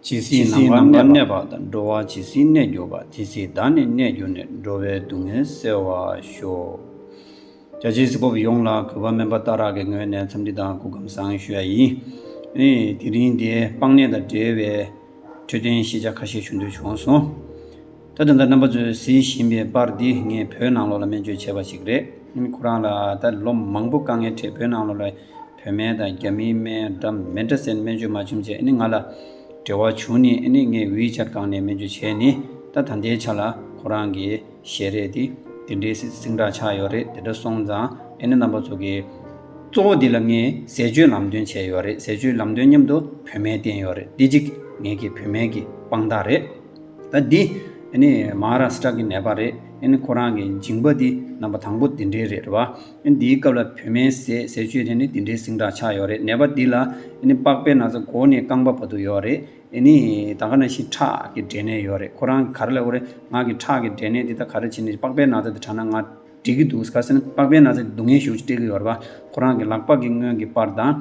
ཇི་སྲིད་ནམ་མཁའ་ལ་གནས་པ་དང་འགྲོ་བ་ཇི་སྲིད་གནས་གྱུར་པ་དེ་སྲིད་བདག་ནི་གནས་གྱུར་ནས་འགྲོ་བའི་སྡུག་བསྔལ་སེལ་བར་ཤོག། བྱ་བྱེད་སྲིད་པོ་ཡོངས་ལ་གུས་པ་དམན་པ་ལྟ་རག་གི་ངོས་ནས་འཚམས་འདྲི་དང་སྐུ་ཁམས་བཟང་ཞུ་ཡ་ཡིན། དེ་རིང་འདིར་སྤང་གནས་དང་འབྲེལ་བའི་འཕྲོད་བསྟེན་ཤེས་བྱ་ཁ་ཤས་ཞུ་འདོད་བྱུང་སོང། ད་དུང་ད་རྣམ་པ་ཚོས་གཟིགས་བཞིན་པའི་པར་འདི་ངས་བོད་ནང་ལོགས་ལ་སྨན་བཅོས་བྱས་པ་ཞིག་རེད། ཁོ་རང་ལ་ད་ལོ་མང་པོ་དཀའ་ངལ་འཕྲད་བོད་ནང་ལོགས་ལ། བོད་སྨན་དང་རྒྱ་མིའི་སྨན་འདྲ་མི་འདྲ་ཟེར་ནས་སྨན་བཅོས་མ་བྱུང་རྗེས་ང་ལ་འབྲེལ་བ་བྱུང་ནས་ངས་ཝི་ཆ་སྒང་ནས་སྨན་བཅོས་བྱས་ནས་ད་ད་ལྟའི་ཆ་ལ་ཁོ་རང་གི་ཞལ་རས་དེ་འདི་འདྲའི་སིང་དྲག་ཆགས་ཡོད་རེད་དེ་འདྲ་སོང་ཙང་རྣམ་པ་ཚོ་གི་གཙོ་བོ་འདི་ལ་ངས་ཟས་སྤྱོད་ལམ་སྟོན་བྱས་ཡོད་རེད་ཟས་སྤྱོད་ལམ་སྟོན་མཉམ་དུ་བོད་སྨན་བསྟེན་ཡོད་རེད་འདི་གཅིག་ངེད་ཀྱི་བོད་སྨན་གྱི་དཔང་རྟགས་རེད་ད་འདི་མཧཱ་རཱ་སི་ཀྲ་གི་ནད་པ་རེད་ཁོ་རང་གི་མཇིང་པ་འདི་རྣམ་པ་དང་པོ་འདི་འདྲའི་རེད་བ། འདིའི་སྐབས་ལ་བུད་མེད་ཟས་ཟས་སྤྱོད་དེ་ནི་འདི་འདྲའི་སིང་དྲག་ཆགས་ཡོད་རེད་ནད་པ་འདི་ལ་པགས་པའི་ན་ཚ་མགོ་ནས་རྐང་པ་བར་དུ་ཡོད་རེད་ནི་ད་ག་ན་ཞིང་ཁྲག་གི་འདྲེས་ནད་ཡོད་རེད་ཁོ་རང་གི་ག་རེ་ལ་འོ་རེད་ངག་གི་ཁྲག་གི་འདྲེས་ནད་འདི་ད་ག་རེ་བྱས་ནས་པགས་པའི་ན་ཚ་འདི་དྲག་ན་ང་འགྲིག་གི་འདུག་ག་ཟེར་ན་པགས་པའི་ན་ཚ་འདི་སྡུག་བསྔལ་ཞུགས་ཀྱི་སྤྲད་ཀྱི་ཡོད་རེད་པ་ཁོ་རང་གི་ལག་པ་གི་སྔོན་གྱི་པར་དང་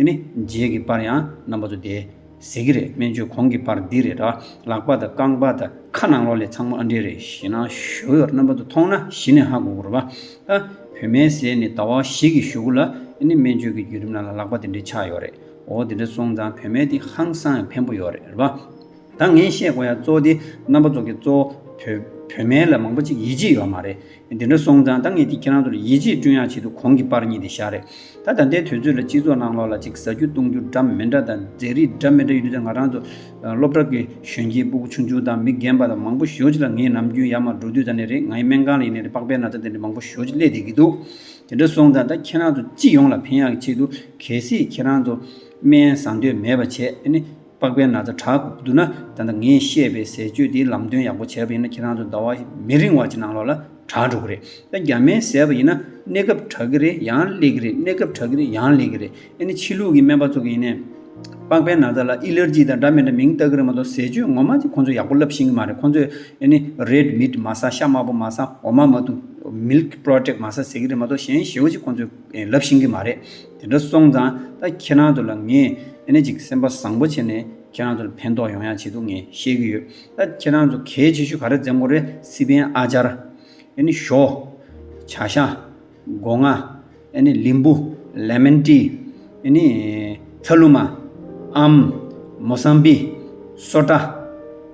ནི་རྗེས་ཀྱི་པར་ཡང་རྣམ་པ་ཚོ་དེ་ཟེར་གྱི་རེད་སྨན་བཅོས་གོང་གི་པར་འདི་རེད་དྲ་ལག་པ་དང་རྐང་པ་དང་ཁ་ནང་ལོག་ལས་ཚང་མ་ཨ་འདྲེ་རེད་ཞེ་ན་ཞོ་ཡོར་རྣམ་པ་ཚོ་མཐོང་ན་གཞི་ནས་ཧ་གོ་གི་རེད་པ། ཨ། བུད་མེད་ཟས་ནི་ཟླ་བ་བཞི་གི་ཞོ་གུ་ལ་ཨེ་ནི་སྨན་བཅོས་ཀྱི་བརྒྱུད་རིམ་ནང་ལ་ལག་པ་དེ་འདྲའི་ཆགས་ཡོད་རེད་འོ་དེ་འདྲ་སོང་ཙང་བུད་མེད་དེ་ཧང་སང་ཡང་ཕན་པོ་ཡོད་རེད་རེད་པ། ད་ངས་བཤད་དགོས་ཡ་གཙོ་དེ་རྣམ་པ་གཙོ་གི་གཙོ། བུ། བུད་མེད་ལ་མང་པོ་ཅིག་ཡིད་ཆེས་ཡོད་མ་རེད། དེ་འདྲ་སོང་ཙང་ད་ངས་དེ་ཁྱེད་རང་ཚོ་ལ་ཡིད་ཆེས་བསྐྲུན་ཡག་ཆེད་དུ་གོང་གི་པར་གཉིས་དེ་བཞག་རེད། ད་ད་ལྟའི་དུས་ཚོད་ལ་སྤྱི་ཚོགས་ནང་ལོགས་ལ་ཅིག་བཟའ་རྒྱུ་བཏུང་རྒྱུ་འདྲ་མི་འདྲ་དང་མཛེས་རིས་འདྲ་མི་འདྲ་ཡོད་དུས་ད་ང་རང་ཚོ་སློབ་གྲྭ་གི་གཞོན་སྐྱེས་སྤུ་གུ་ཆུང་ཆུང་དང་མི་རྒན་པ་དང་མང་པོ་ཞོལ་གྱི་ལ་ངའི་ནམ་རྒྱུན་ཡར་མར་འགྲོ་དུས་ད་ནི་རེད་ང་ཡི་སྨན་ཁང་ལ་ཡིན་ནི་རེད་པགས་པའི་ན་ཚ་དེ་འདྲ་མང་པོ་ཞོལ་གྱི་སླེད་བསྡད་ཀྱི་འདུག་དེ་འདྲ་སོང་ཙང་ད་ཁྱེད་རང་ཚོ་སྤྱི་ཡོངས་ལ་ཕན་ཡག་གི་ཆེད་དུ་གལ་སྲིད་ཁྱེད་རང་ཚོ་སྨན་བཟའ་འདོད་མེད་པ་བྱས་ཨེ་ནི། པགས་པའི་ན་ཚ་དྲག་གི་བསྡུར་ན་ད་ལྟ་ངས་བཤད་པའི་ཟས་སྤྱོད་དེའི་ལམ་སྟོན་ཡག་པོ་བྱས་པ་ཡིན་ན་ཁྱེད་རང་ཚོ་ཟླ་བ་མི་རིང་བ་ཅིག་ནང་ལོགས་ལ་དྲག་འགྲོ་གི་རེད་ད་རྒྱ་སྨན་ཟས་པ་ཡིན་ན་གནས་སྐབས་དྲག་གི་རེད་ཡང་སླེ་གི་རེད་གནས་སྐབས་དྲག་གི་རེད་ཡང་སླེ་གི་རེད་ཨེ་ནི་ཕྱི་ལུགས་ཀྱི་སྨན་པ་ཚོ་གི་ཡིན་ནས། པགས་པའི་ན་ཚ་ལ་ཨི་ལེར་ཇི་དང་འདྲ་མི་འདྲ་མིང་བཏགས་གི་རེད་མ་གཏོགས་ཟས་སྤྱོད་ངོ་མ་ཅིག་ཁོང་ཚོས་ཡག་པོ་བསླབས་ཤིང་གི་མ་རེད་ཁོང་ཚོས་ཨེ་ནི Red Meat མ་ཟ་ཤ་དམར་པོ་མ་ཟ་འོ་མ་མ་བཏུངས། Milk Product མ་ཟ་ཟེར་གི་རེད་མ་གཏོགས་གཞན་བཞི་བོ་ཅིག་ཁོང་ཚོས་ལབ་ཤིང་གི་མ་རེད། དེ་འདྲ་སོང་ཙང་ད་ཁྱེད་རང་ཚོ་ལ་ངས་ཨེ་ནས་ཅིག་སེམས་པ་བཟང་པོ་བྱེད་ནས་ཁྱེད་རང་ཚོ་ལ་ཕན་ཐོག་ཡོང་ཡག་བྱེད་འདུག་ངས་བཤད་ཀྱི་ཡོད་ད་ཁྱེད་རང་ཚོ་གལ་ཆེ་ཤོས་ག་རེ་བཙན་གོ་རེ་སི་པན་ཨ་ཅར་ཨེ་ནས་ཞོ། བྱ་ཤ། སྒོ་ང། ཨེ་ནས་ལིམ་བུ། Lemon Tea། ཨེ་ནས། ཚ་ལུ་མ། ཨམ། མོ་སང་པི། སོ་ཏྲ།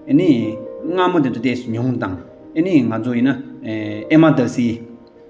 ཨེ་ནས། སྔ་མོ་དེ་ཚོ་བལྟས་མྱོང་དང་ཨེ་ནས་ང་ཚོ་ཡིན་ན་ཨེ་མ་ད་སི།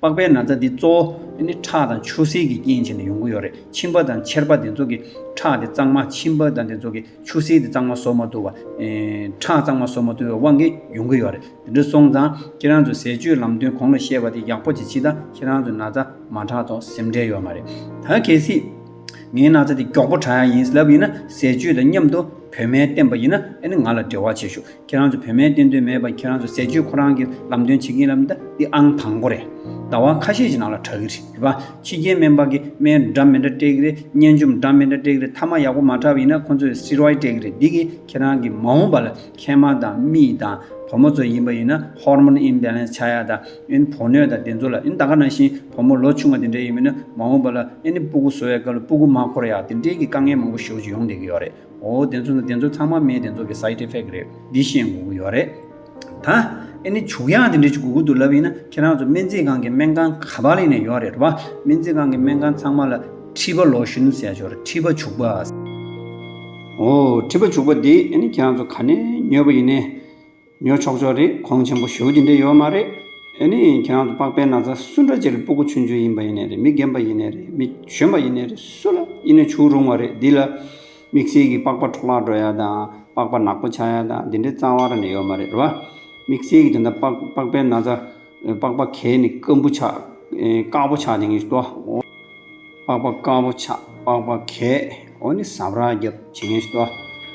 པགས་པའི་ན་ཚ་འདི་གཙོ་བོ་ནི་ཁྲག་དང་ཆུ་སེར་གྱི་རྐྱེན་བྱས་ནས་ཡོང་གི་ཡོད་རེད་མཆིན་པ་དང་མཆེར་པ་འདི་ཚོ་གི་ཁྲག་དེ་གཙང་མ་མཆིན་པ་དང་འདི་ཚོ་གི་ཆུ་སེར་དེ་གཙང་མ་བཟོ་མ་ཐུབ་པ། ཁྲག་གཙང་མ་བཟོ་མ་ཐུབ་པའི་དབང་གིས་ཡོང་གི་ཡོད་རེད་དེ་འདྲ་སོང་ཙང་ཁྱེད་རང་ཚོས་ཟས་སྤྱོད་ལམ་སྟོན་གོང་ལ་བཤད་པ་དེ་ཡག་པོ་བྱེད་ཕྱིས་ད་ཁྱེད་རང་ཚོས་ན་ཚ་མ་ཁྲག་དོག་སེམས་ཁྲལ་ཡོད་མ་རེད་ད་གལ་སྲིད། ངའི་ན་ཚ་དེ་མགྱོགས་པོ་དྲག་ཡ་ཡིན་ལབ་ཡིན་ན་ཟས་སྤྱོད་དང་མཉམ་དུ་བོད་སྨན་བསྟེན་པ་ཡིན་ན་ཨེ་ནི་ང་ལ་འབྲེལ་བ་བྱེད་ཞོག་ཁྱེད་རང་ཚོ་བོད་སྨན་བསྟེན་འདོད་མེད་པ་ཁྱེད་རང་ཚོ་ཟས་སྤྱོད་ཁོ་རང་གི་ལམ་སྟོན་བྱེད་ཀྱིན་ལབ་འདི་འདི་ཨང་དང་པོ་རེད། ཟླ་བ་ཁ་ཤས་ཀྱི་ནང་ལ་དྲག་གི་རེད་བ། ཕྱི་རྒྱལ་སྨན་པ་གི་སྨན་འདྲ་མི་འདྲ་སྤྲད་གི་རེད་སྙན་རྩོམ་འདྲ་མི་འདྲ་སྤྲད་གི་རེད་མཐའ་མ་ཡག་པོ་མ་དྲག་པ་ཡིན་ན་ཁོ་ཚོས་སི་རོའི་སྤྲད་གི་རེད་འདི་གིས་ཁྱེད་རང་གི་མ་འོངས་པ་ལ་མཁལ་མ་དང་རྨིས་དང་བུ་མོ་ཚོ་ཡིན་པ་ཡིན་ན Hormone Imbalance ཆགས་ཡ་དང། ཨིན། བོགས་གནོད་དང་བདེ་འཚོ་ལ་ཨིན། ད་ག་ནང་བཞིན་བུ་མོ་ལོ་ཆུང་བ་དེ་འདྲ་ཡིན་མིན་ནི་མ་འོངས་པ་ལ་ཨེ་ནི་སྤུ་གུ་བཟོ་བའི་སྐབས་ལ་སྤུ་གུ་མ་འཁོར་ཡག་དེ་འདྲའི་གི་དཀའ་ངལ་མང་པོ་ཞོགས་ཀྱི་ཡོང་བསྡད་གི་ཡོག་རེད་འོ་བདེ་འཚོ་ན་བདེ་འཚོ་ཚང་མ་མའི་བདེ་འཚོ་གི side effect རེད་འདི་ཤེས་དགོས་གི་ཡོག་རེད། ད་ཨེ་ནི་བྱུག་ཡག་དེ་འདྲའི་གི་གུ་གུ་དུ་ལབ་ཡིན་ན་ཁྱེད་རང་ཚོ་སྨན་རྩིས་ཁང་གི་སྨན་ཁང་ག་པ་ལེན་ནས་ཡོག་རེད་བ་སྨན་རྩིས་ཁང་གི་སྨན་ཁང་ཚང་མ་ལ་མཁྲིས་པ་ལོ་ཞུན་ཟས་ཞོར་མཁྲིས་པ་བྱུག་པ། འོ་མཁྲིས་པ་བྱུག་པ་དེ་ཨེ་ནི་ཁྱེད་རང་ཚོ་ག་ནས་ཉོས་པ་ཡིན་ནས། ཉོ་ཆོག་ཆོག་རེད་ཁོང་ཆེན་པོ་ཞོ་གི་འདྲེ་ཡོད་མ་རེད། ཨེ་ནི་ཁྱེད་རང་ཚོ་པགས་པའི་ན་ཚ་སུ་འདྲ་ཅི་རེད་སྤུ་གུ་ཆུན་ཆུན་ཡིན་པ་ཡིན་ནས་རེད་མི་རྒན་པ་ཡིན་ནས་རེད་མི་གཞོན་པ་ཡིན་ནས་རེད་སུ་ལ་ཡིན་ནས་བྱུགས་རུང་བ་རེད་འདི་ལ་དམིགས་བསལ་གྱི་པགས་པ་འཕྲོ་བརླག་འགྲོ་ཡ་དང་པགས་པ་ནག་པོ་ཆགས་ཡ་དང་འདི་འདྲའི་རྩ་བ་ར་ནས་ཡོད་མ་རེད་རེད་བ། དམིགས་བསལ་གྱི་དེ་འདྲ་པགས་པའི་ན་ཚ། པགས་པ་གས་ནི་སྐམ་པོ་ཆགས། དཀར་པོ་ཆགས་ནི་ངེས་སུ་བལྟ། པགས་པ་དཀར་པོ་ཆགས་པགས་པ་གས་འོ་ནི་ཟབ་ར་རྒྱབ་བྱེད་ངེས་སུ་བལྟ།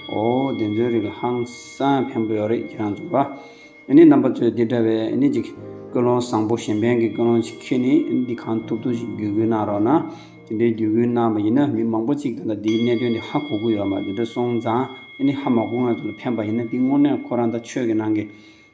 འོ་འདི་ཚོའི་རིགས་ལ་ཧང་སང་ཕན་པོ་ཡོད་རེད་ཁྱེད་རང་ཚོ་ལ། འོ་ནི་རྣམ་པ་ཚོས་འདི་འདྲ་བའི་འོ་ནི་ཅིག་ཀུན་སློང་བཟང་པོ་གཞན་ཕན་གྱི་ཀུན་སློང་ཅིག་ཁྱེད་ནི་འོ་ནི་འདི་གང་ཐུབ་ཐུབ་ཅིག་བརྒྱུད་སྐུལ་གནང་རོགས་གནང། འདི་འདྲའི་བརྒྱུད་སྐུལ་གནང་བ་ཡིན་ན་མི་མང་པོ་ཅིག་དང་ལ་འདིའི་གནད་དོན་འདི་ཧ་གོ་གི་ཡོད་མ་འདི་འདྲ་སོང་ཙང་འོ་ནི་ཧ་མ་གོ་ང་ཚོ་ལ་ཕན་པ་ཡིན་ན་འདི་དངོས་གནས་ཁོ་རང་ད་ཆོས་ཀྱི་ནང་གི